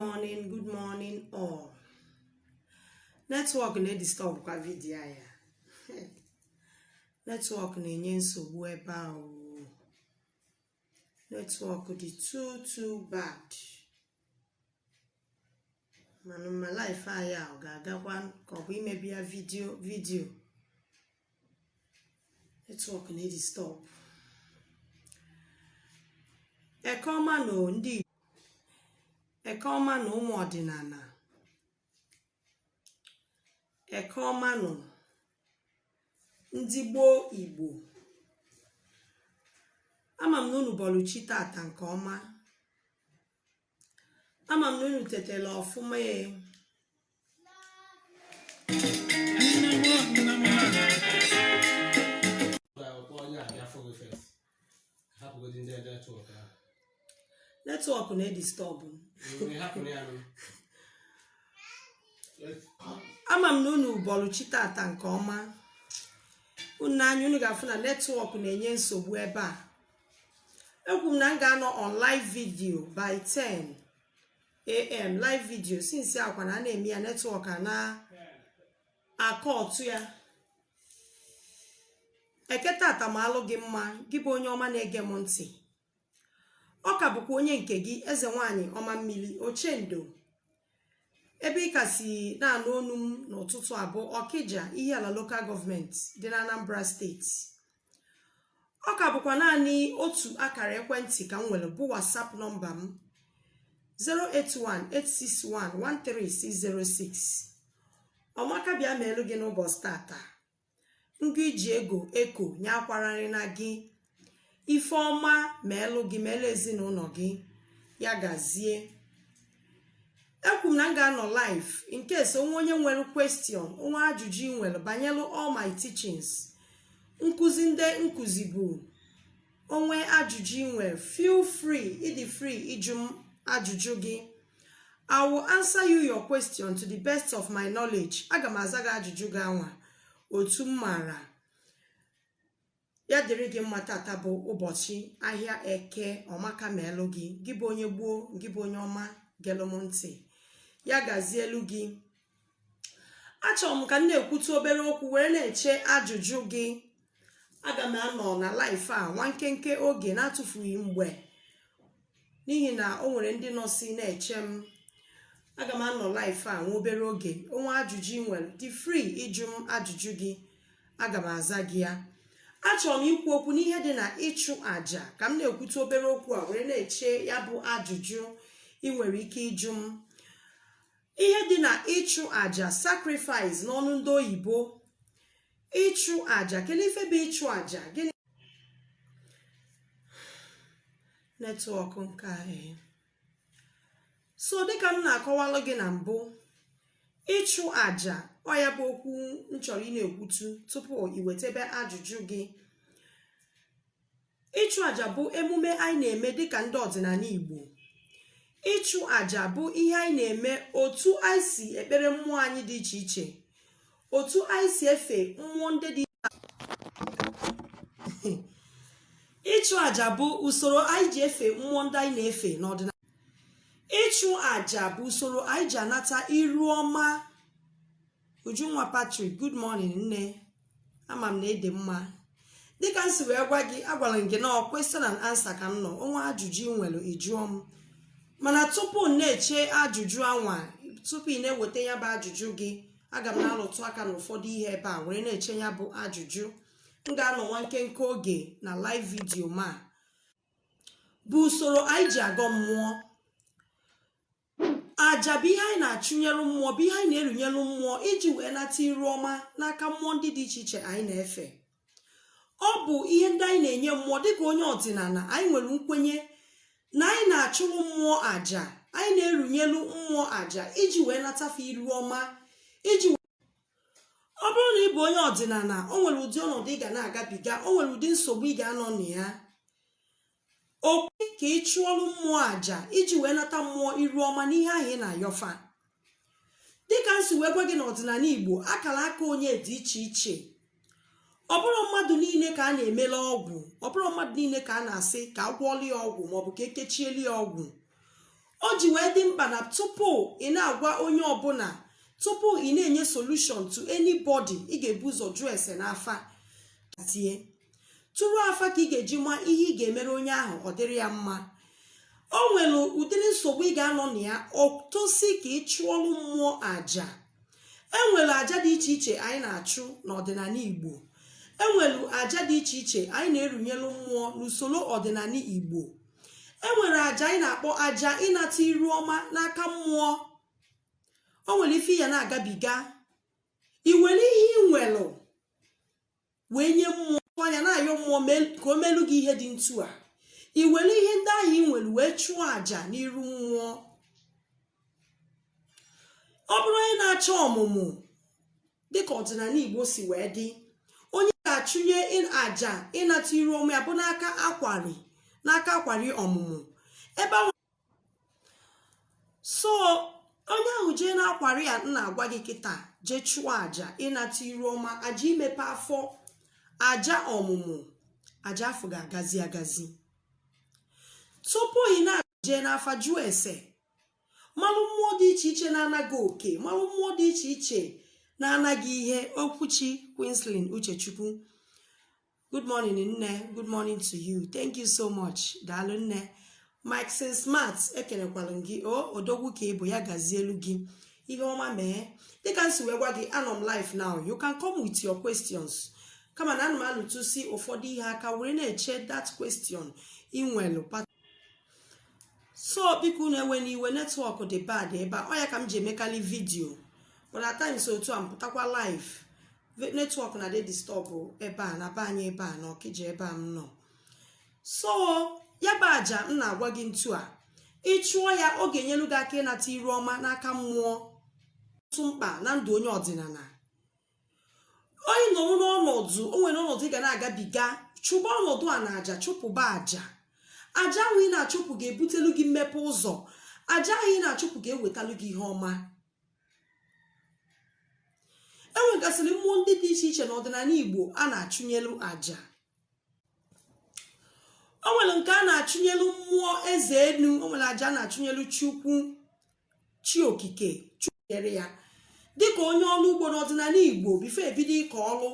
morning good morning all network na-edisturbkwa video a ya network na-enye nsogbu ebe a o network dị too too bad mana ma live a ya ọ ga-agakwa ka ọ bụ imebi ya video video network na-edisturb eke ọma nụ ndị eke ọma nụ ụmụ ọdịnala eke ọma nụ ndị gboo Igbo ama m na unu bọlụ chi tata nke ọma ama m na unu tetela ọfụma e network na-edisturb ama m na unu bọlụ chi tata nke ọma unu anya unu ga-afụ na network na-enye nsogbu ebe a ekwu m na m ga-anọ on live video by 10 am live video since akwa na a na-eme ya network a na-akọtụ ya eke tata malụ gị mma gị bụ onye ọma na-ege m ntị ọ ka bụkwa onye nke gị eze nwanyị ọma mmiri ochendo ebe ị ka si na-anụ onu m n'ụtụtụ a bụ Ọkịja Ihiala local government dị na Anambra state ọ ka bụkwa naanị otu akara ekwentị ka m nwere bụ WhatsApp number m 08186113606 ọmaka bịa meelu gị n'ụbọchị tata ngụ e ji ego eko nya akwararịna gị ife ọma meelu gị meelu ezinụlọ gị ya gazie ekwu m na m ga-anọ live in case o nwee onye nwere question o nwee ajụjụ ị nwere banyere all my teachings nkụzi ndị m kụzibu o nwee ajụjụ ị nwere feel free ị dị free ịjụ m ajụjụ gị i will answer you your question to the best of my knowledge aga m aza gị ajụjụ gị anwa otu m maara ya dịrị gị mma tata bụ ụbọchị ahịa eke ọmaka meelu gị gị bụ onye gboo gị bụ onye ọma gelụ m ntị ya gazielu gị achọrọ m ka m na-ekwutu obere okwu were na-eche ajụjụ gị aga m anọ na live a nwa nkenke oge na-atụfughị mgbe n'ihi na o nwere ndị nọsi na-eche m aga m anọ live a nwa obere oge o nwee ajụjụ ị nwere dị free ịjụ m ajụjụ gị aga m aza gị ya achọrọ m ikwu okwu n'ihe dị na ịchụ àjà ka m na-ekwutụ obere okwu a were na-eche ya bụ ajụjụ ị nwere ike ịjụ m ihe dị na ịchụ àjà sacrifice n'ọnụ ndị oyibo ịchụ aja kedu ife bụ ịchụ aja gịnị network nke anyị eh. so dịka m na-akọwalụ gị na mbụ ịchụ aja ọ ya bụ okwu m chọrọ ị na-ekwutụ tupu ị wetebe ajụjụ gị ịchụ àjà bụ emume anyị na-eme dịka ndị ọdịnala Igbo ịchụ àjà bụ ihe anyị na-eme otu anyị si ekpere mmụọ anyị dị iche iche otu anyị si efe mmụọ ndị dị ịchụ àjà bụ usoro anyị ji efe mmụọ ndị anyị na-efe n'ọdịnala ịchụ àjà bụ usoro anyị ji anata iru ọma ujunwa Patrick good morning nne ama m na ị dị mma dịka m si wee gwa gị agwara m gị na ọ question and answer ka m nọ o nwee ajụjụ ị nwere ị jụọ m mana tupu m na-eche ajụjụ anwa tupu ị na-eweta ya bụ ajụjụ gị aga m na-alụtụ aka n'ụfọdụ ihe ebe a were na-eche ya bụ ajụjụ m ga-anọ nwa nkenke oge na live video ma bụ usoro anyị ji agọ mmụọ aja bụ ihe anyị na-achụnyere mmụọ bụ ihe anyị na-erunyere mmụọ iji wee nata iru ọma n'aka mmụọ ndị dị iche iche anyị na-efe ọ bụ ihe ndị anyị na-enye mmụọ dịka onye ọdịnala anyị nwere nkwenye na anyị na-achụrụ mmụọ aja anyị na-erunyelu mmụọ aja iji wee nata fa iru ọma iji ọ bụrụ na ị bụ onye ọdịnala o nwere ụdị ọnọdụ ị ga na-agabiga o nwere ụdị nsogbu ị ga-anọ na ya O kwe ka ị chụọlụ mmụọ aja iji wee nata mmụọ iru ọma n'ihe ahụ ị na-ayọ fa. Dịka m si wee gwa gị n'ọdịnala Igbo, akara aka onye dị iche iche. Ọ bụrọ mmadụ niile ka a na-emelụ ọgwụ, ọ bụrọ mmadụ niile ka a na-asị ka a gwọọlụ ya ọgwụ maọbụ ka e kechielu ya ọgwụ. O ji wee dị mkpa na tupu ị na-agwa onye ọbụla, tupu ị na-enye solution to anybody, ị ga-ebu ụzọ jụọ ese n'afa tie. tụrụ afa ka ị ga-eji ma ihe ị ga-emere onye ahụ ọ dịrị ya mma o nwere ụdịrị nsogbu ị ga-anọ na ya o tosi ka ị chụọlụ mmụọ aja enwere aja dị iche iche anyị na-achụ n'ọdịnala igbo enwere aja dị iche iche anyị na-erunyelu mmụọ n'usoro ọdịnala igbo enwere aja anyị na-akpọ aja ịnata iru ọma n'aka mmụọ o nwere ife ị ya na-agabiga ị were ihe ị nwelụ wee nye mmụọ anya na-ayọ mmụọ ka o melu gị ihe dị ntu a i were ihe ndị ahụ ị nwere wee chụọ àjà n'iru mmụọ ọ bụrụ onye na-achọ ọmụmụ dịka ọdịnana Igbo si wee dị onye ga-achụnye àjà ịnata iru ọma ya bụ n'aka akwari n'aka akwari ọmụmụ ebe ahụ so onye ahụ jee n'akwari a m na-agwa gị kịta jee chụọ aja ịnata iru ọma aja imepe afọ aja ọmụmụ aja afụ ga-agazi agazi tupu ị na-eje n'afa jụọ ese malụ mmụọ dị iche iche na-ana gị oke malụ mmụọ dị iche iche na-ana gị ihe Okwuchi Queenslyn Uchechukwu good morning nne good morning to you thank you so much daalụ nne mike sin smart ekenekwalụ gị o odogwu ka ị bụ ya gazielu gị ihe ọma mee dịka m si wee gwa gị anọ m live now you can come with your questions kama na ana m alụtụsi ụfọdụ ihe aka were na-eche that question ị nwelu so biko unu ewena iwe network dị bad ebe a ọ ya ka m ji emekali video but at times otu a m pụtakwa live network na-adị disturb ebe a na be anyị ebe a na Ọkịja ebe a m nọ so ya bụ aja m na-agwa gị ntu a ị chụọ ya ọ ga-enyelu gị aka ịnata iru ọma n'aka mmụọ dị mkpa na ndụ onye ọdịnana onye nọ n'ọnọdụ o nwere ọnọdụ ị ga na-agabiga chụba ọnọdụ a na aja chụpụba aja aja ahụ ị na-achụpụ ga-ebutelu gị mmepe ụzọ aja ahụ ị na-achụpụ ga-ewetalu gị ihe ọma e nwegasịrị mmụọ ndị dị iche iche n'ọdịnana Igbo a na-achụnyelu aja o nwere nke a na-achụnyelu mmụọ eze enu o nwere aja a na-achụnyelu chukwu chi okike chụnyere ya dịka onye ọrụ ugbo n'ọdịnana Igbo before e bido ịkọ ọrụ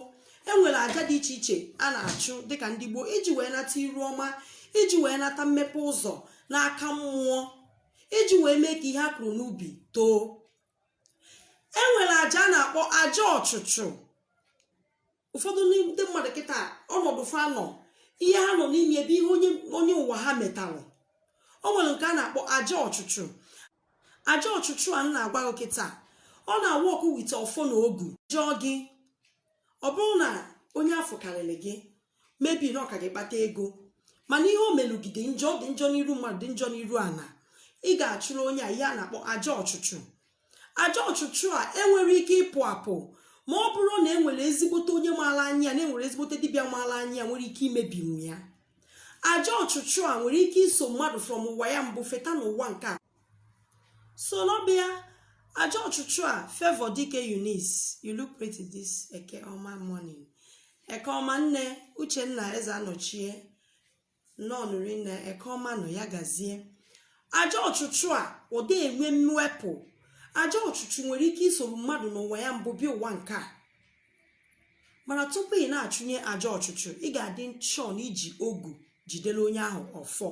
e nwere aja dị iche iche a na-achụ dịka ndị Igbo iji wee nata iru ọma iji wee nata mmepe ụzọ n'aka mmụọ iji wee mee ka ihe a kụrụ n'ubi too e nwere aja a na-akpọ aja ọchụchụ ụfọdụ ndị mmadụ kịta ọnọdụ fa nọ ihe ha nọ n'ime ya bụ ihe onye ụwa ha metalụ o nwere nke a na-akpọ aja ọchụchụ aja ọchụchụ a m na-agwa gị kịta ọ na-awụ ọkụ wite ọfọ na ogu jụọ gị ọ bụrụ na onye afụ karịrị gị maybe na ọ ka gị kpata ego mana ihe o melu gị dị njọ dị njọ n'iru mmadụ dị njọ n'iru ana ị ga-achụrụ onye a ihe a na-akpọ aja ọchụchụ aja ọchụchụ a enwere ike ịpụ apụ ma ọ bụrụ na e nwere ezigbote onye maara anya na e nwere ezigbote dibịa maara anya nwere ike imebinwu ya aja ọchụchụ a nwere ike iso mmadụ from ụwa ya mbụ feta n'ụwa nke a soro bịa aja ọchụchụ a favour dike Eunice you look pretty this eke ọma morning eke ọma nne uchenna eze anọchie nọnụri na eke ọma nọ ya gazie aja ọchụchụ a ọ dị enwe mwepụ aja ọchụchụ nwere ike isoro mmadụ n'ụwa ya mbụ bịa ụwa nke a mana tupu ị na-achụnye aja ọchụchụ ị ga-adị sure na i ji ogu jidere onye ahụ ọfọ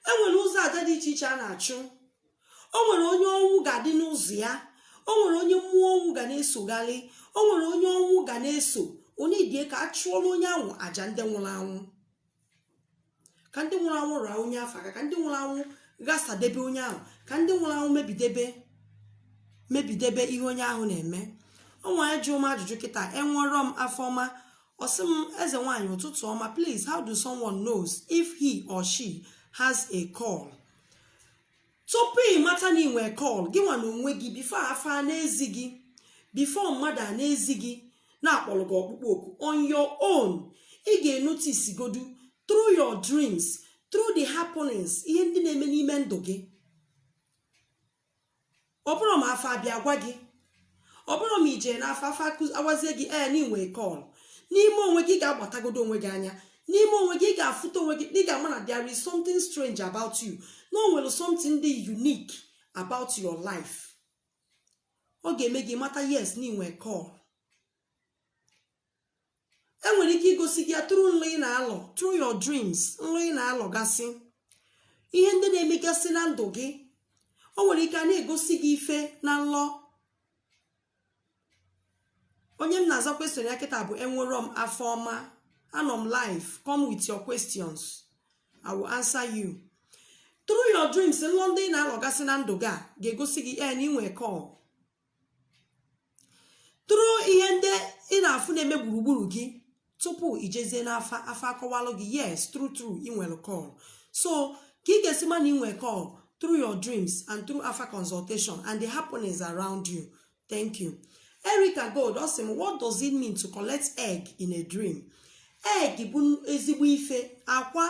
e nwere ụzọ aja dị iche iche a na-achụ o nwere onye ọnwụ ga-adị n'ụzọ ya o nwere onye mmụọ ọnwụ ga na-esogharị o nwere onye ọnwụ ga na-eso onye idie ka a chụọra onye ahụ aja ndị nwụrụ anwụ ka ndị nwụrụ anwụ raa onye afụ aka ka ndị nwụrụ anwụ ghasadebe onye ahụ ka ndị nwụrụ anwụ mebidebe mebidebe ihe onye ahụ na-eme o nwe onye jụọ m ajụjụ kịta enwerọ m afọ ọma Ọ sị m, Eze nwaanyị ụtụtụ ọma, please how do someone knows if he or she has a call? Tupu ị mata na i nwe call gị nwa na onwe gị before afa na-ezi gị before mmadụ ana-ezi gị na a kpọrọ gị ọkpụkpọ oku on your own ị ga-enotice godu through your dreams through the happenings ihe ndị na-eme n'ime ndụ gị ọ bụrụ ma afa abịa agwa gị ọ bụrụ ma i je n'afa afa agwazie gị ee na i nwe call n'ime onwe gị ị ga-agbatagodo onwe gị anya n'ime onwe gị ị ga-afụta onwe gị ị ga-ama na there is something strange about you na o nwere something dị unique about your life ọ ga-eme gị mata yes na i nwe call e nwere ike igosi gị ya through nlọ ị na-alọ through your dreams nlụ ị na-alọgasị ihe ndị na-emegasị na ndụ gị o nwere ike a na-egosi gị ife na nlọ onye m na-aza question ya kịta bụ enwerọ m afọ ọma anọ m live come with your questions i will answer you through your dreams nlọ ndị ị na-alọgasị na ndụ gị a ga-egosi gị na i nwe call through ihe ndị ị na-afụ na-eme gburugburu gị tupu i jezie n'afa afa akọwalụ gị yes true true ị nwere call so ka ị ga-esi ma na ị nwere call through your dreams and through afa consultation and the happenings around you thank you Erica Gold ọ sị m what does it mean to collect egg in a dream egg bụ ezigbo ife akwa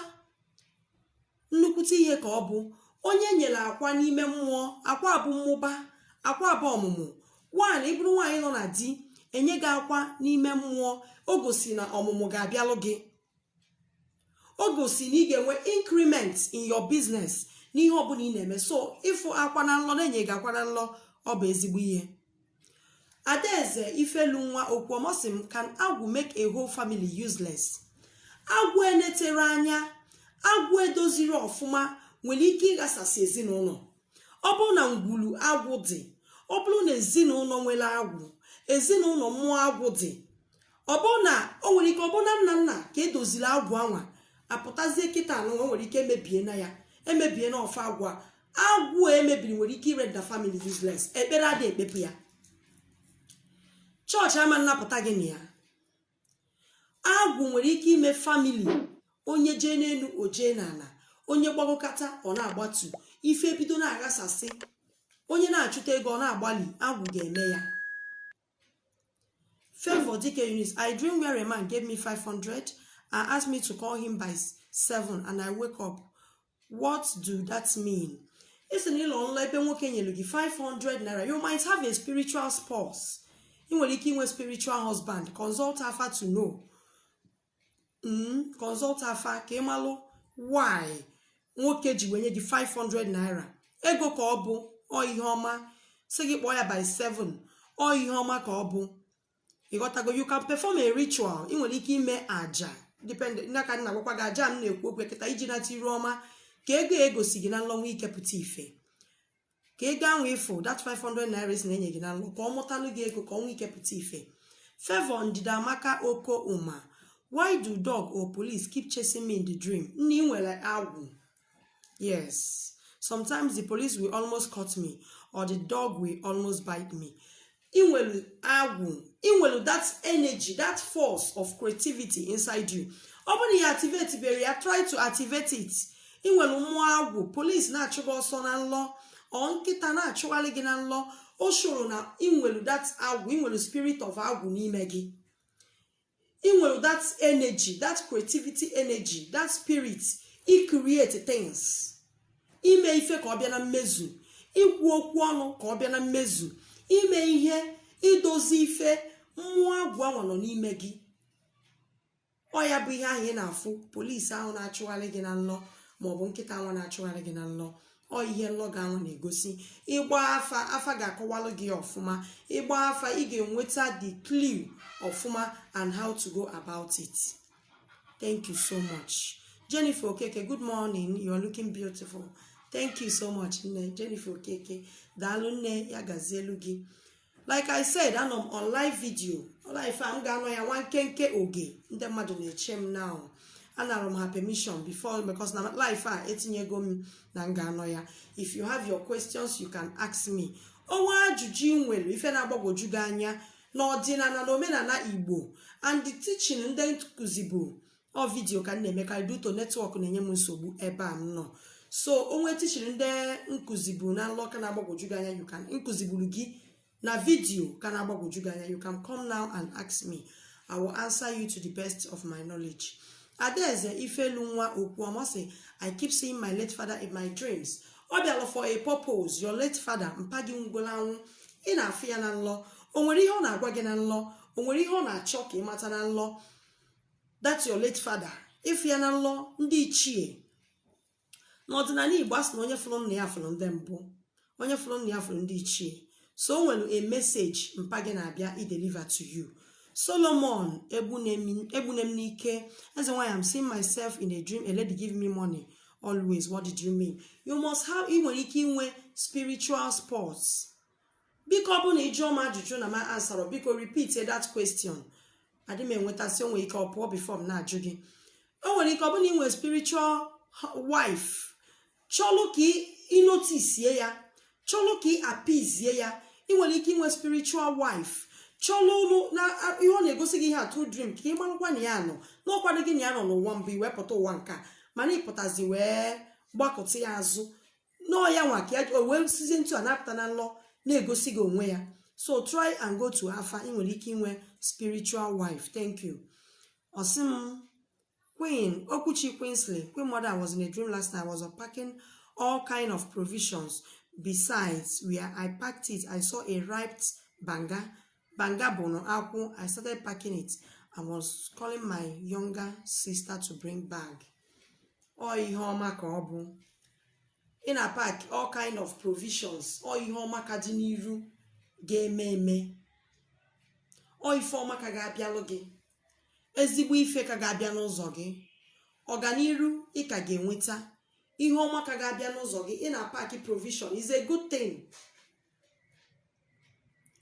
nnukwute ihe ka ọ bụ onye e nyere akwa n'ime mmụọ akwa bụ mmụba akwa bụ ọmụmụ one ị bụrụ nwaanyị nọ na di e nye gị akwa n'ime mmụọ o gosi na ọmụmụ ga-abịalụ gị o gosi na ị ga-enwe increment in your business n'ihe ọbụla ị na-eme so ịfụ akwa na nlọ na-enye gị akwa na nlọ ọ bụ ezigbo ihe Adaeze Ifelunwa Okwuoma sị m can agwụ make a whole family useless agwụ enetero anya agwụ edoziro ọfụma nwere ike ịghasasị ezinụlọ ọ bụrụ na ngwulu agwụ dị ọ bụrụ na ezinụlọ nwere agwụ ezinụlọ mmụọ agwụ dị ọ bụrụ na o nwere ike ọ bụrụ na nna nna ka edoziri agwụ anwa apụtazie kịta anwa o nwere ike emebiena ya emebiena ọfọ agwụ a agwụ emebiri nwere ike irender family useless ekpere adị ekpepụ ya chọọchị ama nnapụta gị na ya agwụ nwere ike ime family onye jee n'elu o jee n'ala onye gbagokata ọ na-agbatu ife ebido na-aghasasị onye na-achụta ego ọ na-agbalị agwụ ga-eme ya Favour Dike Eunice, I dream where a man gave me 500 and asked me to call him by 7 and I wake up. What do that mean? Ị sị na ị lọ nlọ ebe nwoke nyelu gị 500 naira, you might have a spiritual spouse. Ị nwere ike inwe spiritual husband, consult afa to know. mm, consult afa ka ị malụ why nwoke ji wee nye gị 500 naira ego ka ọ bụ ọ ihe ọma sị gị kpọọ ya by 7 ọ ihe ọma ka ọ bụ ịghọtago you can perform a ritual ị nwere ike ime aja depend na ka a na-agwakwa gị aja m na-ekwu okwu kịta iji nata iru ọma ka ego egosi gị na nlọ nwee ike pụta ife ka ego ahụ ị fụ that 500 naira ị sị na-enye gị na nlọ ka ọ mụtalụ gị ego ka ọ nwee ike pụta ife Favour Ndidiamaka Oko Uma why do dog or police keep chasing me in the dream nne ị nwere agwụ yes sometimes the police will almost caught me or the dog will almost bite me ị nwelu agwụ ị nwelu that energy that force of creativity inside you ọ bụrụ na ị activate bero ya try to activate it ị nwere mmụọ agwụ police na-achụ gị ọsọ na nlọ or nkịta na-achụghalị gị na nlọ o shoro na ị nwelu that agwụ ị nwelu spirit of agwụ n'ime gị ị nwere that energy that creativity energy that spirit icreate things ime ife ka ọ bịa na mmezu ikwu okwu ọnụ ka ọ bịa na mmezu ime ihe idozi ife mmụọ agwụ anwa nọ n'ime gị ọ ya bụ ihe ahụ ị na-afụ polisi ahụ na-achụgharị gị na nlọ maọbụ nkịta anwa na-achụgharị gị na nlọ ọ ihe nlọ gị ahụ na-egosi ị gbaa afa afa ga-akọwalụ gị ọfụma ị gbaa afa ị ga-enweta the clue ọfụma and how to go about it thank you so much Jennifer Okeke good morning you are looking beautiful thank you so much nne Jennifer Okeke daalụ nne ya gazielu gị like i said anọ m on live video live a m ga-anọ ya nwa nkenke oge ndị mmadụ na-eche m now anara m ha permission before because na live a etinyego m na m ga-anọ ya if you have your questions you can ask me o nwee ajụjụ ị nwere ife na-agbagwoju gị anya n'ọdịnala na omenala igbo and the teaching ndị m kuzibu ọ video ka m na-emekarị due to network na-enye m nsogbu ebe a m nọ so o nwee teaching ndị m kuzibu na nlọ ka na-agbagwoju gị anya you can m kuziburu gị na video ka na-agbagwoju gị anya you can come now and ask me i will answer you to the best of my knowledge adaeze ifelunwa okwu ọmasị i keep seeing my late father in my dreams ọ bịalụ for a purpose your late father mpa gị nwụlụ anwụ ị na-afụ ya na nlọ o nwere ihe ọ na-agwa gị na nlọ o nwere ihe ọ na-achọ ka ị mata na nlọ that's your late father ị fụ ya na nlọ ndị ichie n'ọdịnala igbo a sị na onye fụrụ nna ya fụrụ ndị mbụ onye fụrụ nna ya fụrụ ndị ichie so o nwere a message mpa gị na-abịa i deliver to you solomon egbunem n'ike eze nwaanyị i'm seeing myself in a dream a lady give me money always what did you mean you must have ị nwere ike inwe spiritual spouse biko ọ bụrụ na ị jụọ m ajụjụ na m answerọ biko repeat that question adị m enwetasị o nwee ike ọ pụọ before m na-ajụ gị o nwere ike ọ bụrụ na ị nwere spiritual wife chọlụ ka ị notice ya chọlụ ka ị appease ya ị nwere ike inwe spiritual wife chọlụ ụlụ na ihe ọ na-egosi gị ihe a through dream ka ị marụkwa na ya nọ n'ọkwado gị na ya nọ n'ụwa mbụ i wee pụta ụwa nka mana ị pụtazie wee gbakụta ya azụ n'ọ ya nwa ka ya o wee sizie etu a na-apụta na nlọ na-egosi gị onwe ya so try and go to afa ị nwere ike inwe spiritual wife thank you ọ sị m queen okwuchi queensley queen mother was in a dream last night I was packing all kind of provisions besides where i packed it i saw a ripe banga Banga bụnụ akwụ I started packing it I was calling my younger sister to bring bag ọ ihe ọma ka ọ bụ ị na-apack all kind of provisions ọ ihe ọma ka dị n'iru ga-eme eme ọ ife ọma ka ga-abịalụ gị ezigbo ife ka ga-abịa n'ụzọ gị ọganiru ị ka ga-enweta ihe ọma ka ga-abịa n'ụzọ gị ị na-apack provision is a good thing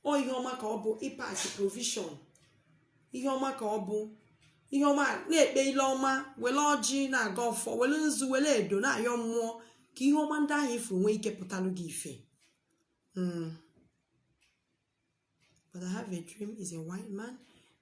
ọ ihe ọma ka ọ bụ ịpack provision ihe ọma ka ọ bụ ihe ọma na-ekpe ile ọma wele ọjị na-agọ ọfọ wele nzu wele edo na-ayọ mmụọ ka ihe ọma ndị ahụ ị fụrụ nwee ike pụtalụ gị ife Mm. But I have a dream is a white man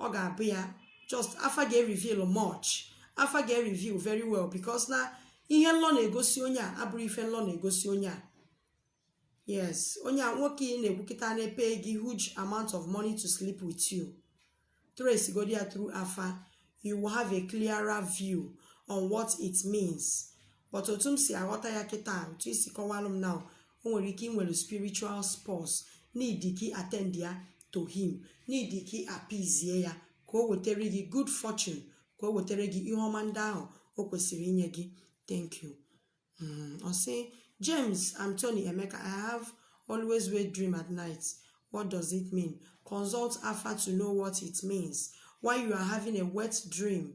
ọ ga-abụ ya just afa ga-reveal much afa ga-reveal very well because na ihe nlọ na-egosi onye a abụrọ ife nlọ na-egosi onye a yes onye a nwoke ị na-ekwu kịta na-pay gị huge amount of money to sleep with you trace godi ya through afa you will have a clearer view on what it means but otu m si aghọta ya kịta otu i si kọwalụ m now o nwere ike i nwere spiritual spouse need ka ị attend ya to him need ka ị appease ya ka o wetere gị good fortune ka o wetere gị ihe ọma ndị ahụ o kwesịrị inye gị thank you mm, ọ sị James Anthony Emeka I have always wet dream at night what does it mean consult afa to know what it means why you are having a wet dream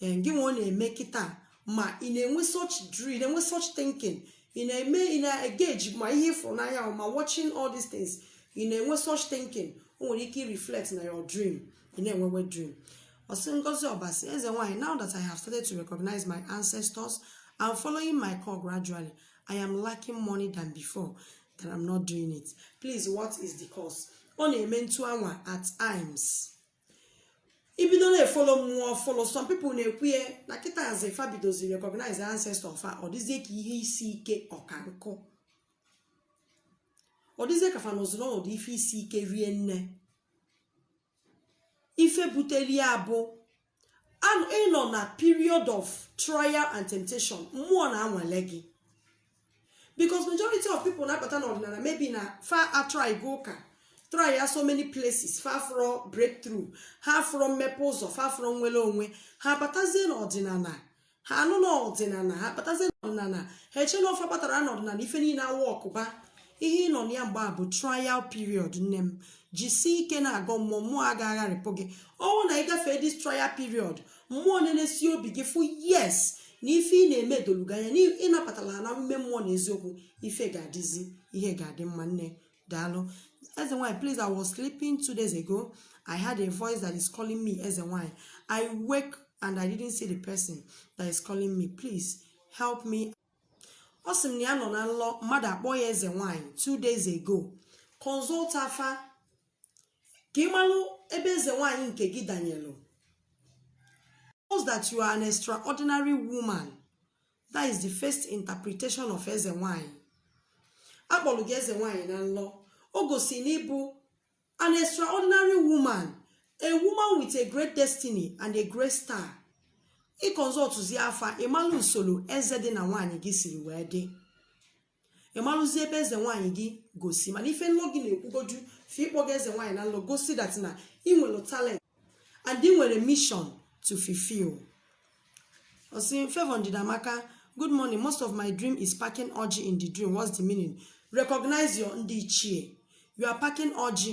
ee gị nwe ọ na-eme kịta ma ị na-enwe such dream ị na-enwe such thinking ị na-eme ị na-engage ma ihe ị fụrụ n'anya ma watching all these things ị na-enwe such thinking o nwere ike reflect na your dream ị na-enwe wet dream ọ sị ngozi ọbasi eze nwanyị now that i have started to recognize my ancestors and following my call gradually i am lacking money than before that i'm not doing it please what is the cause ọ na-eme ntu anwa at times i bido na-efollow mmụọ ọfụrụ some people na-ekwu ya na kịtazị fa bidozi recognize ancestor fa ọ dịzie ka ihe isi ike ọka nkụ ọ dịzie ka fa nọzi n'ọnọdụ ife isi ike rie nne ife buteli ya bụ ị nọ na period of trial and temptation mmụọ na-anwale gị because majority of people na-abata n'ọdịnana maybe na fa atrygo ụka try ya so many places fa afụrọ breakthrough ha afụrọ mmepe ụzọ fa afụrọ nwere onwe ha batazie n'ọdịnana ha anụ n'ọdịnana ha batazie n'ọdịnana ha eche na ọ fa batara n'ọdịnana ife niile aworkụba ihe ị nọ na ya mgbe a bụ trial period nne m jisie ike na-agọ mmụọ mmụọ agaghị agharịpụ gị ọ wụ na ị gafee this trial period mmụọ na-enesi obi gị fụ yes na ife ị na-eme edolu gị anya na ị nabatala ha n'ime mmụọ na eziokwu ife ga-adịzi ihe ga-adị mma nne daalụ eze nwanyị please i was sleeping two days ago i heard a voice that is calling me eze nwanyị i wake and i didn't see the person that is calling me please help me ọ sị m na ya nọ na nlọ mmadụ akpọ ya eze nwanyị two days ago consult afa ka ị malụ ebe eze nwaanyị nke gị danyelụ that you are an extraordinary woman that is the first interpretation of eze nwaanyị a kpọlụ gị eze nwaanyị na nlọ o gosi na ị bụ an extraordinary woman a woman with a great destiny and a great star ị consultụzi afa ị malụ usoro eze dị na nwaanyị gị siri wee dị ị malụzi ebe eze nwaanyị gị gosi mana ife nlọ gị na-ekwugoju fa ịkpọ gị eze nwaanyị na nlọ gosi that na ị nwere talent and ị nwere mission to fulfill osi Favour Ndidiamaka good morning most of my dream is packing ọjị in the dream what's the meaning recognize your ndị ichie you are packing ọjị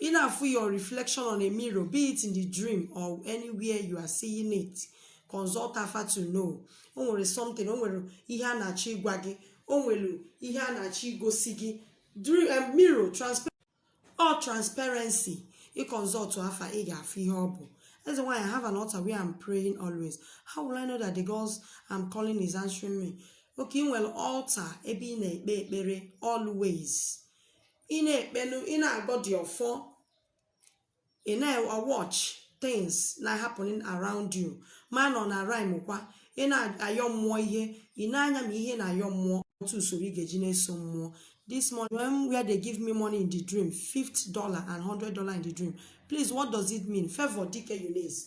ị na-afụ your reflection on a mirror be it in the dream or anywhere you are seeing it consult afa to know o nwere something o nwere ihe a na-achọ ịgwa gị o nwere ihe a na-achọ igosi gị dream eh, mirror transparent or transparency ị consult afa ị ga-afụ ihe ọ bụ That's why I have an altar where I'm praying always. How will I know that the gods I'm calling is answering me? Okay, i nwere altar, ebe ị na-ekpe ekpere always. ị na-ekpelu ị na-agọ dị ọfọ ị na-watch things na happening around you ma ọ na-rhyme kwa ị na-ayọ mmụọ ihe ị na-anya ma ihe na-ayọ mmụọ otu usoro ị ga-eji na-eso mmụọ this morning when where they give me money in the dream fifty dollar and hundred dollar in the dream please what does it mean Favour Dike Eunice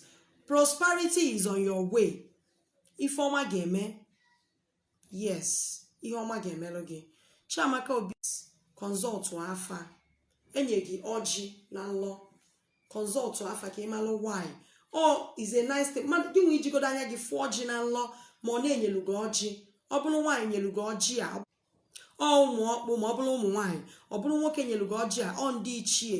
prosperity is on your way ife ọma ga-eme yes ihe ọma ga-emelụ gị chiamaka obi consult afa e nye gị ọjị na nlọ consult afa ka ị malụ why ọ is a nice thing mmadụ gị nwa ijigodo anya gị fụ ọjị na nlọ ma ọ na e nyelu gị ọjị ọ bụrụ nwaanyị nyelu gị ọjị a ọ ụmụ ọkpụ ma ọ bụrụ ụmụ nwaanyị ọ bụrụ nwoke nyelu gị ọjị a ọ ndị ichie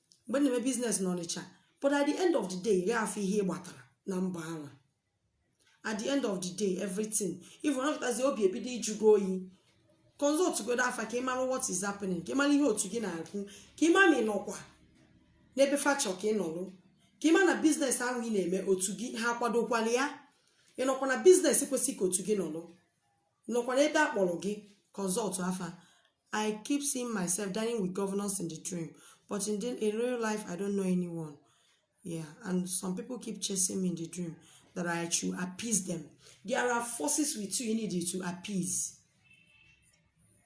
mgbe m na-eme business na ọnịcha but at the end of the day ị gaghị afụ ihe ị gbatara na mbọ ahụ at the end of the day everything even ọ pụtazi obi ebido ịjụ gị oyi consult godo afa ka ị mara what is happening ka ị mara ihe otu gị na-ekwu ka ị ma ma ị nọkwa n'ebe fa chọ ka ị nọrụ ka ị ma na business ahụ ị na-eme otu gị ha kwadokwala ya ị nọkwa na business kwesịrị ka otu gị nọrọ nọkwa n'ebe a kpọrọ gị consult afa I keep seeing myself dining with governors in the dream, but in, the, in real life, I don't know anyone. Yeah, and some people keep chasing me in the dream that I should appease them. There are forces with you you need to appease.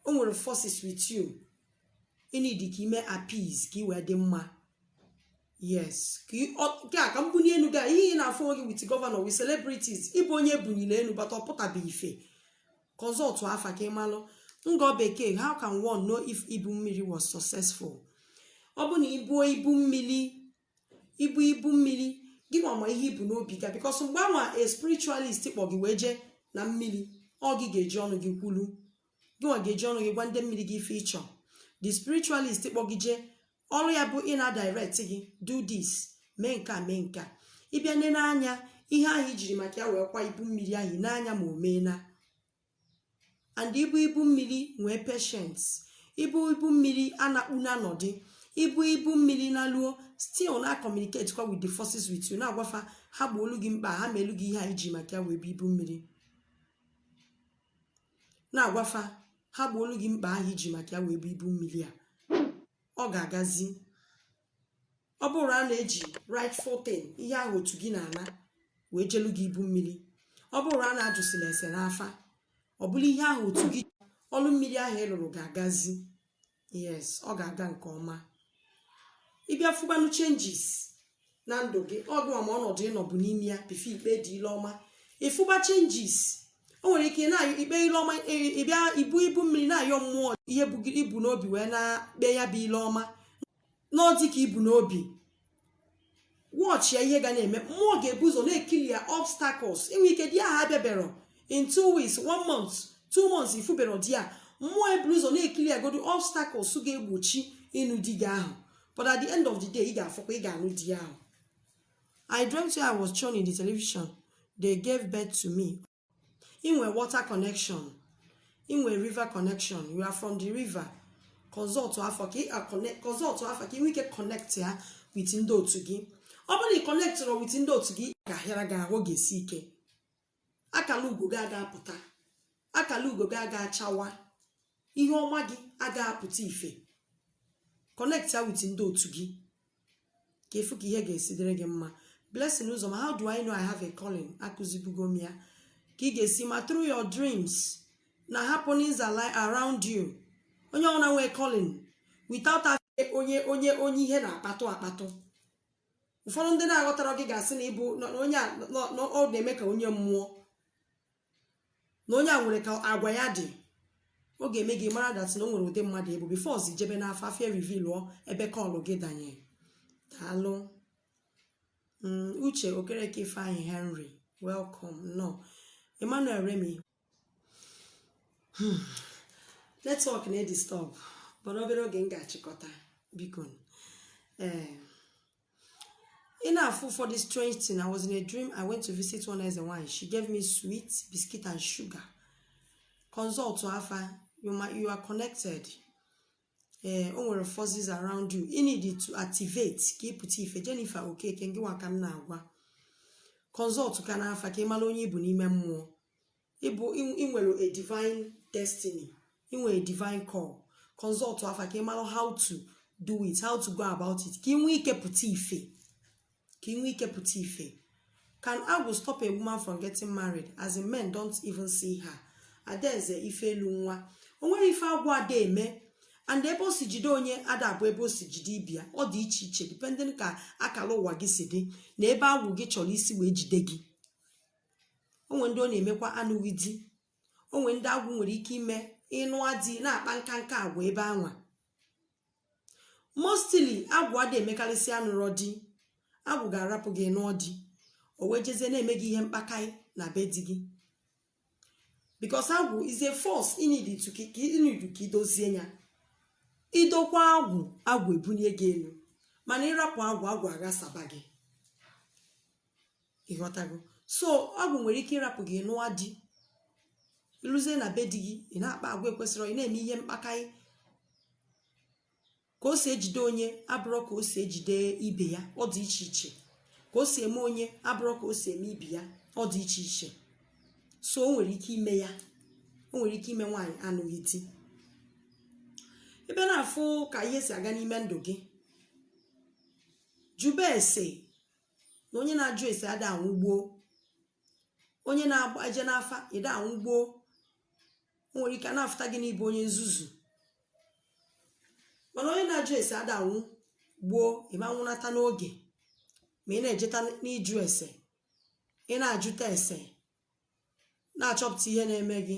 O nwere forces with you you need ka i mee appease ka ị wee dị mma. Yes, ka ị- ọ- nke a ka mbuni enu gị a, ihe ị na-afụ onwe gị with governor with celebrities ị bụ onye e bunili enu but ọ pụtabeghị ife consult afa ka ị malụ Ngo Bekee how can one know if ibu mmiri was successful ọ bụ na i buo ibu mmiri i buo ibu mmiri gị nwa ma ihe i bu n'obi gaa because mgbe anwa a spiritualist kpọ gị wee jee na mmiri ọ gị ga-eji ọnụ gị kwulu gị nwa ga-eji ọnụ gị gwa ndị mmiri gị ife ị chọ the spiritualist kpọ gị jee ọrụ ya bụ ị na-direct gị do this mee nke a mee nke a ịbịa nene anya ihe ahụ i jiri maka ya wee kwa ibu mmiri ahụ n'anya ma o meena and ibu ibu mmiri nwee patience ibu ibu mmiri anakpu na anọdị ibu ibu mmiri naluo still na communicate kwa with the forces with you na-agwa fa ha gboolu gị mkpa ha meelu gị ihe ahụ i ji maka ya wee bu ibu mmiri na-agwa fa ha gboolu gị mkpa ahụ i ji maka ya wee bu ibu mmiri a ọ ga-agazi ọ bụrụ a na-eji rightful thing ihe ahụ otu gị na-ana wee jelu gị ibu mmiri ọ bụrụ a na-ajụsịla ese n'afa ọ bụrụ ihe ahụ otu gị ọlụ mmiri ahụ ị lụrụ ga-agazi yes ọ ga-aga nke ọma ị bịa fụbanụ changes na ndụ gị ọ gịwa ma ọnọdụ ị nọbu n'ime ya before ikpe dị ile ọma ị fụba changes o nwere ike na ikpe ile ọma ịbịa ibu ibu mmiri na-ayọ mmụọ ihe i bu n'obi wee na-akpe ya bụ ile ọma na ọ dị ka i bu n'obi watchịa ihe ga na-eme mmụọ ga-ebu ụzọ na-eclear obstacles inwe ike di ahụ abịaberọ in two weeks one month two months ị fụberọ di a mmụọ eburu ụzọ na-eclear godu obstacles ga-egbochi ịnụ di gị ahụ but at the end of the day ị ga-afụkwa ị ga-anụ di ahụ I dreamt I was shown in the television. They gave birth to me. inwe water connection inwe river connection you are from the river consult afa ka ị nwee ike connect ya with ndị otu gị ọ bụrụ na ị connectrọ with ndị otu gị ga-ahịara gị ahụ ga-esi ike akala ugo gị aga apụta akala ugo gị aga achawa ihe ọma gị aga apụta ife connect ya with ndị otu gị ka ị fụ ka ihe ga-esi dịrị gị mma blessing ụzọma how do i know i have a calling akụzibugo m ya ka ị ga-esi ma through your dreams na happenings are li- around you onye ọbụla nwee calling without having onye onye onye ihe na-akpatụ akpatụ ụfọdụ ndị na-aghọtarọ gị ga-asị na ị bụ na- na onye a nọ- nọ- ọ na-eme ka onye mmụọ na onye a nwere ka agwa ya dị ọ ga-eme gị mara that na o nwere ụdị mmadụ ị bụ before ọzi jebe n'afa afa erevealụọ ebe aka ọlụ gị danye daalụ uche okereke ifeanyị henry welcome nnọọ emmanuel remi network na-edisturb but obere oge m ga-achịkọta biko ee ị na-afụ ụfọdụ strange thing I was in a dream I went to visit one eze nwanyị she gave me sweet biscuit and sugar consult afa you are connected ee o nwere forces around you you need to activate ka ị pụta ife Jennifer Okeke ngị nwa ka m na-agwa consult ka n'afa ka ị mala onye ị bụ n'ime mmụọ ịbụ ị nwere a divine destiny ị nwere a divine call consult afa ka ị mara how to do it how to go about it ka ị nwee ike pụta ife can agwụ stop a woman from getting married as in men don't even see her adaeze ife elu nwa o nwere ife agwụ ada eme and ebe o si jide onye ada abụ ebe o si jide ibe ya ọ dị iche iche depending ka akala ụwa gị si dị na ebe agwụ gị chọrọ isi wee jide gị o nwere ndị ọ na-emekwa anụghị di o nwere ndị agwụ nwere ike ime ị nụọ di na-akpa nkanka agwa ebe anwa mostly agwụ ada emekarịsị anụrọ di agwụ ga-arapụ gị nụọ di o wee jezie na-eme gị ihe mkpakaị na be di gị because agwụ is a force ị need ka i dozie ya i dokwaa agwụ agwụ ebunye gị elu mana ị rapụ agwụ agwụ aghasaba gị ịghọtago so agwụ nwere ike ịrapụ gị nụọ di i luzie na be di gị ị na-akpa agwa ekwesịrọ ị na-eme ihe mkpakaị ka o si ejide onye abụrọ ka o si ejide ibe ya ọ dị iche iche ka o si eme onye abụrọ ka o si eme ibe ya ọ dị iche iche so o nwere ike ime ya o nwere ike ime nwaanyị anụghị di ebe ị na-afụ ka ihe si aga n'ime ndụ gị jụbe ese na onye na-ajụ ese ada anwụ gboo onye na-eje n'afa ada anwụ gboo o nwere ike a na-afụta gị na ị bụ onye nzuzu mana onye na-ajụ ese ada anwụ gboo ị ma nwụnata n'oge ma ị na-ejeta n'ịjụ ese ị na-ajụta ese na-achọpụta ihe na-eme gị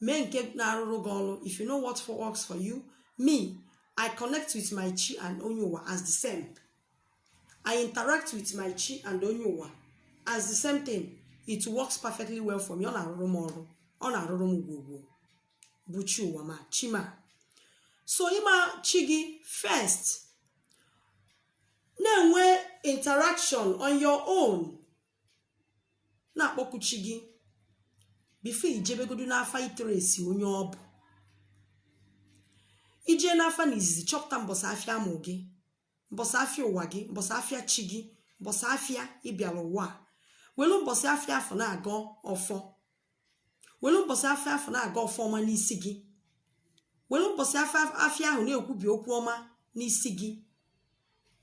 mee nke na-arụrụ gị ọrụ if you know what works for you me i connect with my chi and onye ụwa as the same i interact with my chi and onye ụwa as the same thing it works perfectly well for me ọ na-arụrụ m ọrụ ọ na-arụrụ m ogwugwu bụ chi ụwa ma chi ma so ịma chi gị first na-enwe interaction on your own na-akpọku chi gị before i jebegodu n'afa ịtrace onye ọ bụ i jee n'afa na izizi chọpụta mbọsị afịa a mụ gị mbọsị afịa ụwa gị mbọsị afịa chi gị mbọsị afịa ị bịara ụwa a welu mbọsị afịa afụ na-agọ ọfọ were mbọsị afịa afụ na-agọ ọfọ ọma n'isi gị were mbọsị afịa ahụ na-ekwubi okwu ọma n'isi gị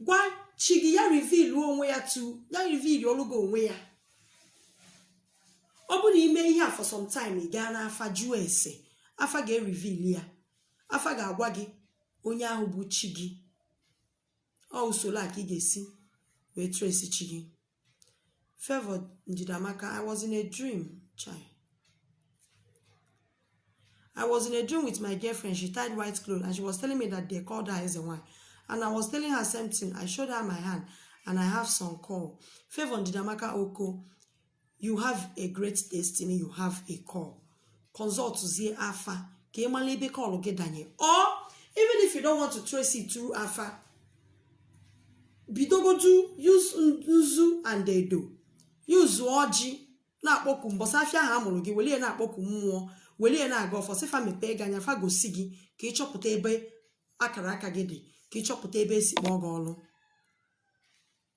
gwa chi gị ya reveal onwe ya to ya revealụrụ gị onwe ya ọ bụrụ na i mee ihe a for some time ị gaa n'afa jụọ ese afa ga-ereveal ya afa ga-agwa gị onye ahụ bụ chi gị ọ usoro a ka ị ga-esi wee trace chi gị Favour Njidamaka I was in a dream chai I was in a dream with my girlfriend she tied white clothes and she was telling me that they called her Eze Nwanyị and I was telling her same thing I showed her my hand and I have some call Favour Njidamaka Oko you have a great destiny you have a call consultzie afa ka ị mara ebe call gị danye or even if you don't want to trace it through afa bidogodu use nzu and edo use ọjị na-akpọku mbọsị afịa ahụ a mụrụ gị welie na-akpọku mmụọ welie na-agọ ọfọ sị fa mepee gị anya fa gosi gị ka ị chọpụta ebe akara aka gị dị ka ị chọpụta ebe e si kpọọ gị ọlụ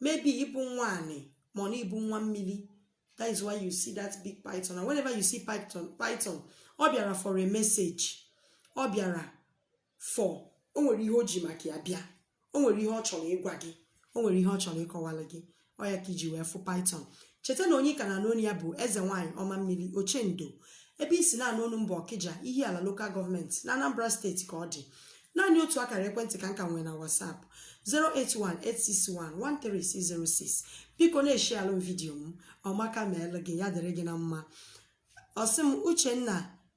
maybe ị bụ nwa anị ma ọ na ị bụ nwa mmiri that is why you see that big python and whenever you see python ọ bịara for a message ọ bịara for o nwere ihe o ji maka ya bịa o nwere ihe ọ chọrọ ịgwa gị o nwere ihe ọ chọrọ ịkọwalụ gị ọ ya ka i ji wee fụ python cheta na onye ị ka na-anụ onu ya bụ eze nwaanyị ọma mmiri ochendo ebe i si na-anụ onu m bụ ọkịja ihiala local government na anambra steeti ka ọ dị naanị otu akara ekwentị ka m ka nwere na whatsapp 08186113606 biko na-esharealụ m video m ọmaka meelụ gị ya dịrị gị na mma ọsị m uchenna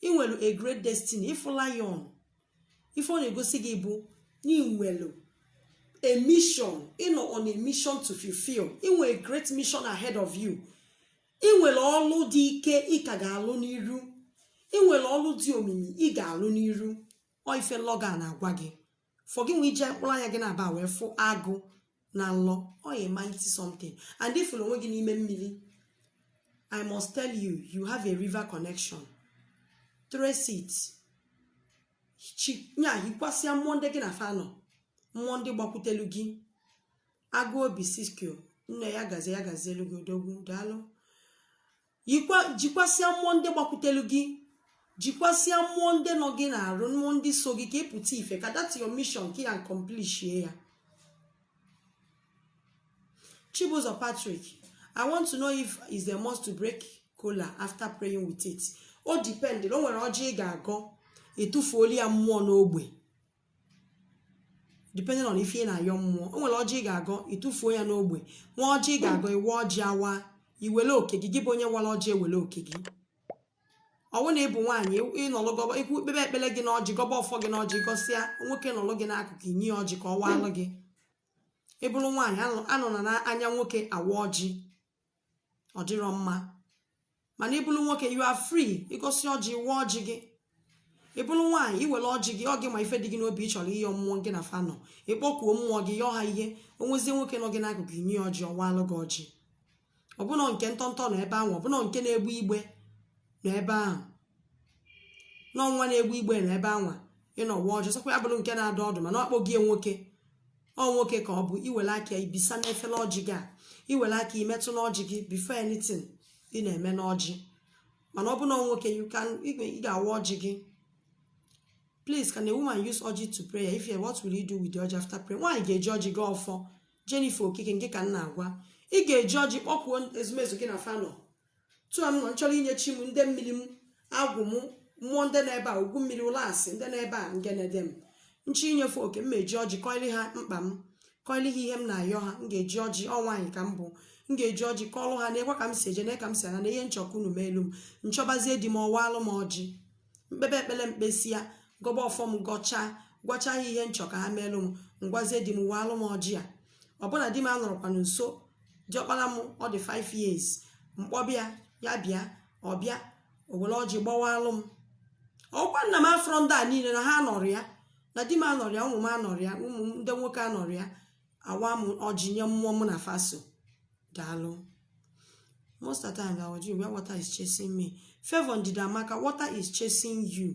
i nwere a great destiny ị fụ lion ife ọ na-egosi gị bụ na i nwere a mission ị nọ on a mission to fulfill i nwere a great mission ahead of you i nwere ọlụ dị ike ị ka ga-alụ n'iru i nwere ọlụ dị omimi ị ga-alụ n'iru ọ ife nlọ gị a na-agwa gị for gị nwee iji mkpụrụ anya gị naabọ wee fụ agụ na nlọ ọ a mighty something and ị fụlụ onwe gị n'ime mmiri i must tell you you have a river connection trace it nya jikwasịa mmụọ ndị gị na fa nọ mmụọ ndị gbakwutelu gị agụ obi sisqo nne ya gazie ya gazielu gị odogwu daalụ jikwasịa mmụọ ndị gbakwutelu gị jikwasịa mmụọ ndị nọ gị n'arụ mmụọ ndị so gị ka ị pụta ife ka that your mission ka ị accomplishie ya Chibuzor Patrick I want to know if is there must to break kola after praying with it o depend o nwere ọjị ị ga-agọ e tufuolu ya mmụọ n'ogbe depending on ife ị na-ayọ mmụọ o nwere ọjị ị ga-agọ ị tụfuo ya n'ogbe nwee ọjị ị ga-agọ ị wa ọjị awa i wele oke gị gị bụ onye wara ọjị ewele oke gị ọwụ na ị bụ nwaanyị ị nọlụ gọba ikwu kpebe ekpere gị na ọjị gọba ọfọ gị na ọjị gọsịa nwoke nọlụ gị n'akụkụ i nye ya ọjị ka ọ waalụ gị ị bụrụ nwaanyị anọna n'anya nwoke awa ọjị ọ dịrọ mma mana ị bụrụ nwoke you are free ị gọsịa ọjị waa ọjị gị ị bụrụ nwaanyị i were ọjị gị ọ gị ma ife dị gị n'obi ị chọrọ ịyọ mmụọ gị na fa nọ ị kpọkuo mmụọ gị yọọ ha ihe o nwezie nwoke nọ gị n'akụkụ i nye ya ọjị ọ waalụ gị ọjị ọbụna nke ntọntọ nọ ebe ahụ ọbụna nke na-egbu igbe nọ ebe ahụ na ọ nwa na-egbe igbe nọ ebe anwa ị na-awa ọjị sọkwa ya bụrụ nke na-adọ ọdụ mana ọ kpọghị ya nwoke ọ nwoke ka ọ bụ i were aka ya bisa n'efere ọjị gị a i were aka metụ n'ọjị gị before anything ị na-eme n'ọjị mana ọ bụ na ọ nwoke you can ị ga- ị ga-awa ọjị gị please can a woman use ọjị to pray if you what will you do with the ọjị after prayer nwaanyị ga-eji ọjị gọ ọfọ Jennifer Okike nke ka m na-agwa ị ga-eji ọjị kpọkuo ezumezu gị na fa nọ tu a m nọ nchọrọ inye chi m ndị mmiri m agwụ m mmụọ ndị nọ ebe a ugwu mmiri ụlasị ndị nọ ebe a ngene di m nchọ inye fa oke m eji ọjị kọịrị ha mkpa m kọịrị ha ihe m na-ayọ ha m ga-eji ọjị ọ nwaanyị ka m bụ m ga-eji ọjị kọọlụ ha nekwa ka m si eje na ka m si ana na ihe nchọ ka unu meelụ m nchọbazie di m ọ waalụ m ọjị m kpebe ekpele m kpesịa gọba ọfọ m gọchaa gwacha ha ihe nchọ ka ha meelụ m ngwazie di m waalụ m ọjị a ọ bụ na di m anọrọkwanụ nso diọkpara m ọ dị 5 years m kpọbịa ya bịa ọ bịa o were ọjị gbawaalụ m ọ bụkwa na m afụrọ ndị a niile na ha anọrọ ya na di m anọrọ ya ụmụ m anọrọ ya ụmụ m ndị nwoke anọrọ ya awa m ọjị nye mmụọ m na fa so daalụ most of the time I always dream where water is chasing me favor ndidiamaka water is chasing you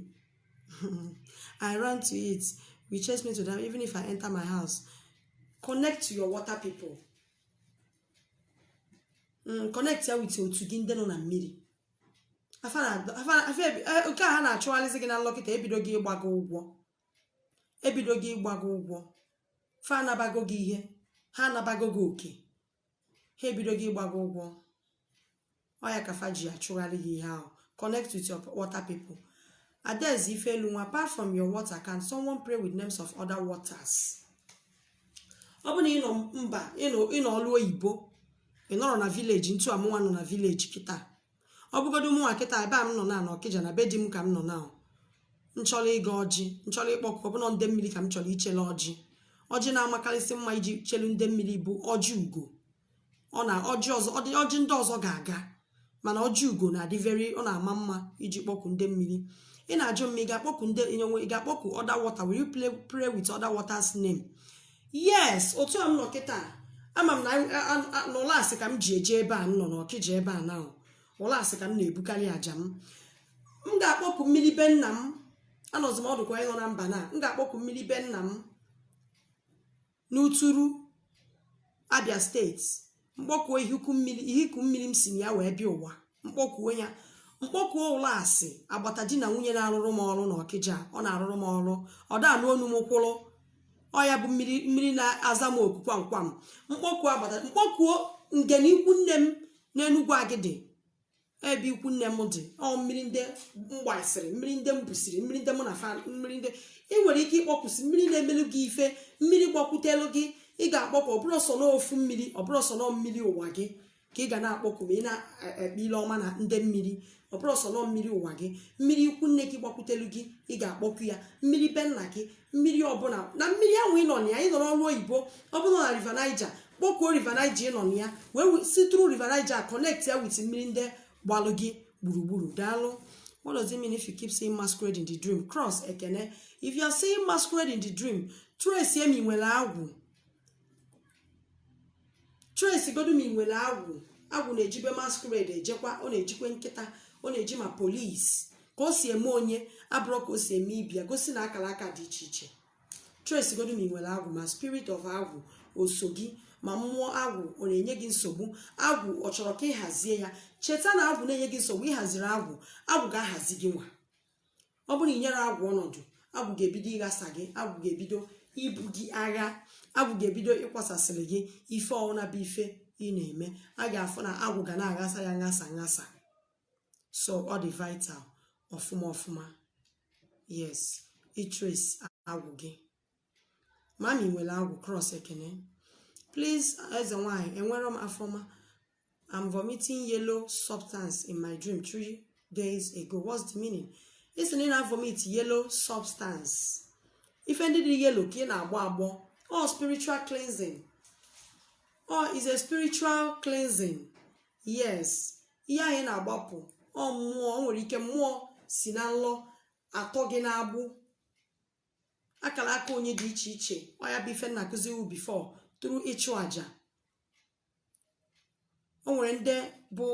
I run to it will chase me to there, even if I enter my house. Connect to your water people. Mm, connect ya with otu gị ndị nọ na mmiri. Afa na- afa- afa ebi- eh, Nke a ha na-achụgharịzi gị na nlọ kịta ebidogo ịgba gị ụgwọ. Ebidogo ịgba gị ụgwọ. Fa anabago gị ihe. Ha anabago gị oke. ha ebidogo ịgba gị ụgwọ ọ ya ka fa ji achụgharị gị ihe ahụ connect with your water people adaeze ifelunwa apart from your water can someone pray with names of other waters ọ bụrụ na ị nọ mba ị nọ ị nọ ọlụ oyibo ị nọrọ na village otu a mụnwa nọ na village kịta ọ bụgodu mụnwa kịta ebe a m nọ na na ọkịja na be di m ka m nọ na nchọrọ ịgọ ọjị nchọrọ ịkpọkụ ọ bụ na ndị mmiri ka m chọrọ ichele ọjị ọjị na-amakarịsị mma iji chelu ndị mmiri bụ ọjị ugo ọ na ọjị ọzọ ọjị ndị ọzọ ga-aga mana ọjị ugo na-adị very ọ na-ama mma iji kpọkụ ndị mmiri ị na-ajụ ma ị ga-akpọkụ ndị ị ga-akpọkụ other water will you pray with other water's name yes otu a m nọ kịta ama m na n'ụlasị ka m ji eje ebe a m nọ n'ọkịja ebe a na ụlasị ka m na-ebukarị aja m m ga-akpọku mmiri be nna m anọzi m ọdụkwa ịnọ na mba na m ga-akpọku mmiri be nna m n'uturu abia state m kpọkuo ihiku mmiri ihiku mmiri m si na ya wee bịa ụwa m kpọkuo ya m kpọkuo ụlasị agbata di na nwunye na-arụrụ m ọrụ na ọkịja ọ na-arụrụ m ọrụ ọ da anụ onu m kwụrụ ọ ya bụ mmiri mmiri na-aza m oku kwam kwam m kpọkuo agbata m kpọkuo ngene ikwu nne m n'enugwu agịdị ebe ikwu nne m dị ọ mmiri ndị m gbasịrị mmiri ndị m busiri mmiri ndị mụ na fa mmiri ndị ị nwere ike ịkpọkusi mmiri na-emelu gị ife mmiri gbakwutelu gị ị ga-akpọku ọ bụrọ sọ n'ofu mmiri ọ bụrọ sọ nọ mmiri ụwa gị ka ị ga na-akpọku ma ị na-ekpe ile ọma na ndị mmiri ọ bụrọ sọ nọ mmiri ụwa gị mmiri ikwu nne gị gbakwutelu gị ị ga-akpọku ya mmiri be nna gị mmiri ọbụla na mmiri ahụ ị nọ na ya ị nọrọ olu oyibo ọ bụrụ na river niger kpọkuo river niger ị nọ na ya wee si through river niger connect ya with mmiri ndị gbalụ gị gburugburu daalụ what does it mean if you keep seeing masquerade in the dream cross ekene if you are seeing masquerade in the dream trace ma ị nwere agwụ trace godu ma ị nwere agwụ agwụ na-ejibe masquerade ejekwa ọ na-ejikwe nkịta ọ na-eji ma police ka o si eme onye abụrọ ka o si eme ibe ya gosi na akara aka dị iche iche trace godu ma ị nwere agwụ ma spirit of agwụ o so gị ma mmụọ agwụ ọ na-enye gị nsogbu agwụ ọ chọrọ ka ị hazie ya cheta na agwụ na-enye gị nsogbu ị haziri agwụ agwụ ga-ahazi gị nwa ọ bụrụ na i nyerọ agwụ ọnọdụ agwụ ga-ebido ịghasa gị agwụ ga-ebido ibu gị agha agwụ ga-ebido ịkwasasịrị gị ife ọwụna bụ ife ị na-eme a ga-afụ na agwụ ga na-aghasa ya nghasa nghasa so ọ dị vital ọfụma ọfụma yes ị trace agwụ gị ma ị nwere agwụ cross ekene please eze nwanyị enwere m afọma i'm vomiting yellow substance in my dream three days ago what's the meaning ị sị na ị na-vomit yellow substance ife ndị dị yellow ka ị na-agbọ agbọ ọ spiritual cleansing ọ is a spiritual cleansing yes ihe ahụ ị na-agbọpụ ọ mmụọ o nwere ike mmụọ si na nlọ atọ gị n'agbụ akara aka onye dị iche iche ọ ya bụ ife m na-akụziwu before through ịchụ aja o nwere ndị bụ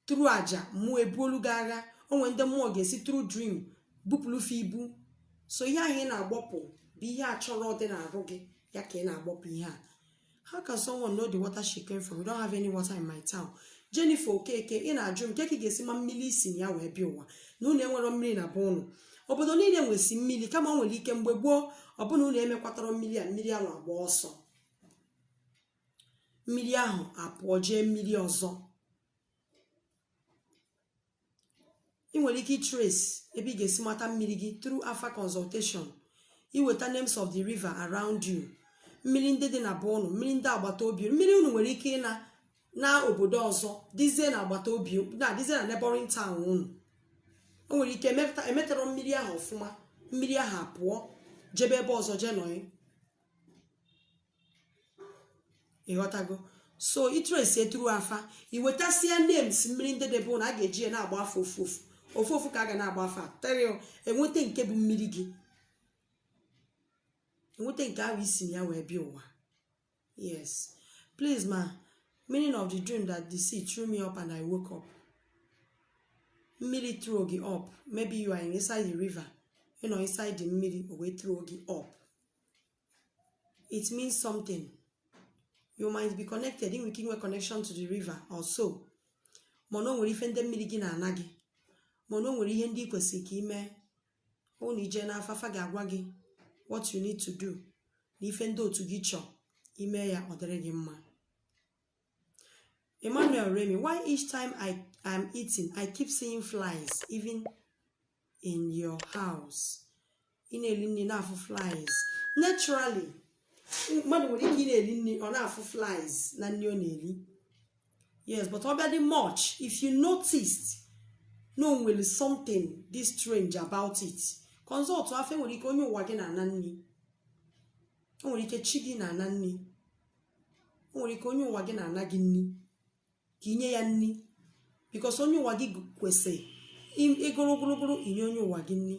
through aja mmụọ ebuolu gị agha o nwere ndị mmụọ ga-esi through dream bupụlụ fa ibu so ihe ahụ ị na-agbọpụ bụ ihe a chọrọ dị n'arụ gị ya ka ị na-agbọpụ ihe a How can someone know the water she came from? We don't have any water in my town. Jennifer Okeke, ị na-ajụ m kee ka ị ga-esi ma mmiri i si na ya wee bịa ụwa na unu enwero mmiri na be unu. Obodo niile nwesi mmiri kama o nwere ike mgbe gboo ọbụna unu emekwatara mmiri a mmiri ahụ agba ọsọ. Mmiri ahụ apụọ jee mmiri ọzọ. ị nwere ike ịtrace ebe ị ga-esi mata mmiri gị through afa consultation i weta names of the river around you mmiri ndị dị na be unu mmiri ndị agbata obi mmiri unu nwere ike ịnọ na obodo ọzọ dizie na agbata obi na dizie na neighboring town unu o nwere ike emetara mmiri ahụ ọfụma mmiri ahụ apụọ jebe ebe ọzọ jee nọị ịghọtago so ị trace it through afa iwetasia names mmiri ndị dị be unu a ga-eji ya na-agba afa ofu ofu ofu ofu ka a ga na-agba afa until enweta nke bụ mmiri gị enweta nke ahụ isi na ya wee bịa ụwa yes please ma meaning of the dream that the sea threw me up and i woke up mmiri throw gị up maybe you are inside the river you know inside the mmiri o wee throw gị up it means something you might be connected inwe ike inwe connection to the river or so mana o nwere ife ndị mmiri gị na-ana gị mana o nwere ihe ndị ị kwesịrị ka ime ọnụ ije n'afa fa ga-agwa gị what you need to do na ife ndị otu gị chọọ ime ya ọ dịrị gị mma Emmanuel Remy, why each time I am eating, I keep seeing flies even in your house? Ị na-eli nni na-afụ flies. Naturally, mmadụ nwere ike ị na-eli nni ọ na-afụ flies na nni ọ na-eli. Yes, but ọ bịa dị much if you noticed na o nwere something dị strange about it. Consult afa o nwere ike onye ụwa gị na-ana nni. O nwere ike chi gị na-ana nni. o nwere ike onye ụwa gị na-ana gị nni ka inye ya nni because onye ụwa gị kwesị ịgụrụ ogologolo inye onye ụwa gị nni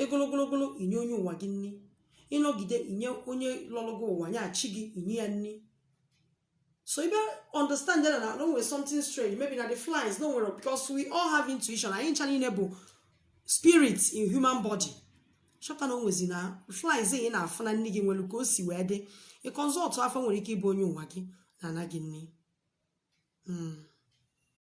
ịgụrụ ogologolo inye onye ụwa gị nni ịnọgide inye onye lọrọ gị ụwa nya chi gị inye ya nni so ị bịa understand na na o nwere something strange maybe na the flies na o nwere because we all have intuition anyị ncha nine bụ spirit in human body chọpụta na o nwezi na flies ị na-afụ na nni gị nwelu ka o si wee dị ị consult afa o nwere ike ịbụ onye ụwa gị na-ana gị nni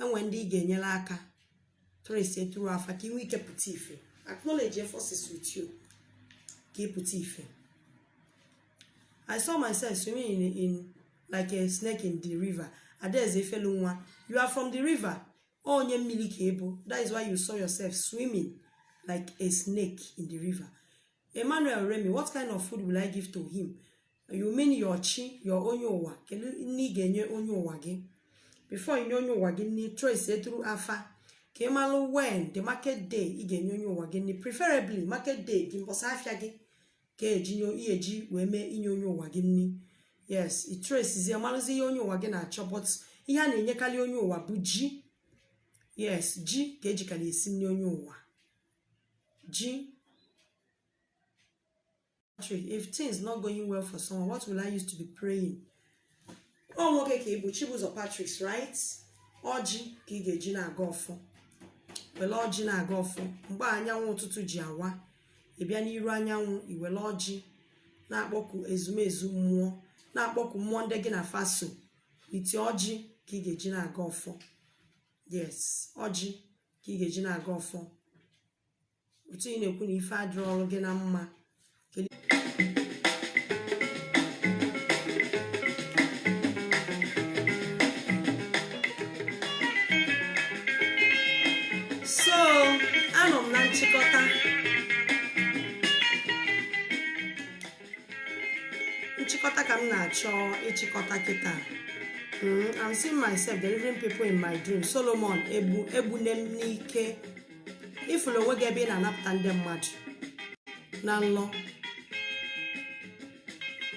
enwe ndị ga-enyere aka trace it through afa ka inwe ike pụta ife acknowledge your forces with you ka ị pụta ife I saw myself swimming in, in like a snake in the river adaeze ifelunwa you are from the river onye mmili ka ị bụ that is why you saw yourself swimming like a snake in the river Emmanuel Remy what kind of food will I give to him you mean your chi your onye ụwa kedu nni ị ga-enye onye ụwa gị before inye onye ụwa gị nni trace it through afa ka ị malụ when the market day ị ga-enye onye ụwa gị nni preferably market day gị mbọsị afịa gị ka eji ihe eji wee mee inye onye ụwa gị nni yes itresizie malụzi ihe onye ụwa gị na-achọ but ihe a na-enyekalị onye ụwa bụ ji yes ji ka ejikalị esi nni onye ụwa ji Actually, if things not going well for someone, what will I use to be praying? Ọ nwoke ka ị bụ Chibuzọ Patrick's right? Ọjị ka ị ga-eji na-agọ ọfọ. Wele ọjị na-agọ ọfọ. Mgbe anyanwụ ụtụtụ ji awa, ị bịa n'iru anyanwụ, i wele ọjị na-akpọku ezumezu mmụọ, na-akpọku mmụọ ndị gị na fa so. It is ọjị ka ị ga-eji na-agọ ọfọ. Yes, ọjị ka ị ga-eji na-agọ ọfọ. otu ị na-ekwu na ife adịrọrọ gị na mma so anọ m na nchịkọta nchịkọta ka m na-achọ ịchịkọta kịta hmm, I'm seeing myself delivering people in my dream Solomon egbu egbunem n'ike ị fụrụ onwe gị ebe ị na-anapụta ndị mmadụ na nlọ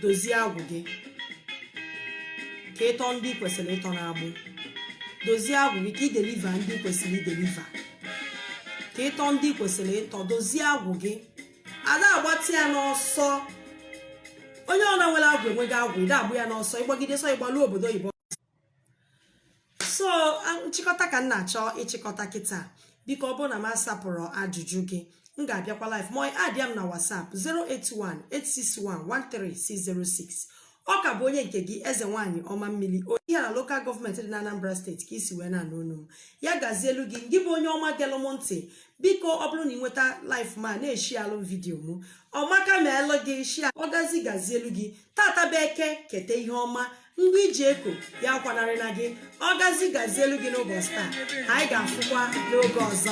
dozie agwụ gị ka ị tọọ ndị kwesịrị ịtọ n'agbụ dozie agwụ gị ka ị deliver ndị kwesịrị ideliver ka ị tọọ ndị kwesịrị ịtọ dozie agwụ gị a da-agbatị ya n'ọsọ onye ọbụna nwere agwụ enweghị agwụ ị da-agba ya n'ọsọ ị gbagide ọsọ ị gbalu obodo oyibo so nchịkọta ka m na-achọ ịchịkọta kịta biko ọ bụrụ na m asapụrọ ajụjụ gị m ga-abịakwa live ma addịa m na whatsapp 08186113606 ọ ka bụ onye nke gị eze nwaanyị ọma mmiri onye Ihiala local government dị na Anambra State ka i si wee na-anụ onu m ya gazielụ gị ngị bụ onye ọma gelụ m ntị biko ọ bụrụ na ị nweta live m a na-eshịalụ m vidiyo m ọ maka melụ gị share ọ gazi gazielụ gị tata bụ eke keta ihe ọma ngwa i ji eke ya akwanarịna gị ọ gazi gazielụ gị n'ụbọchị taa anyị ga-afụkwa n'oge ọzọ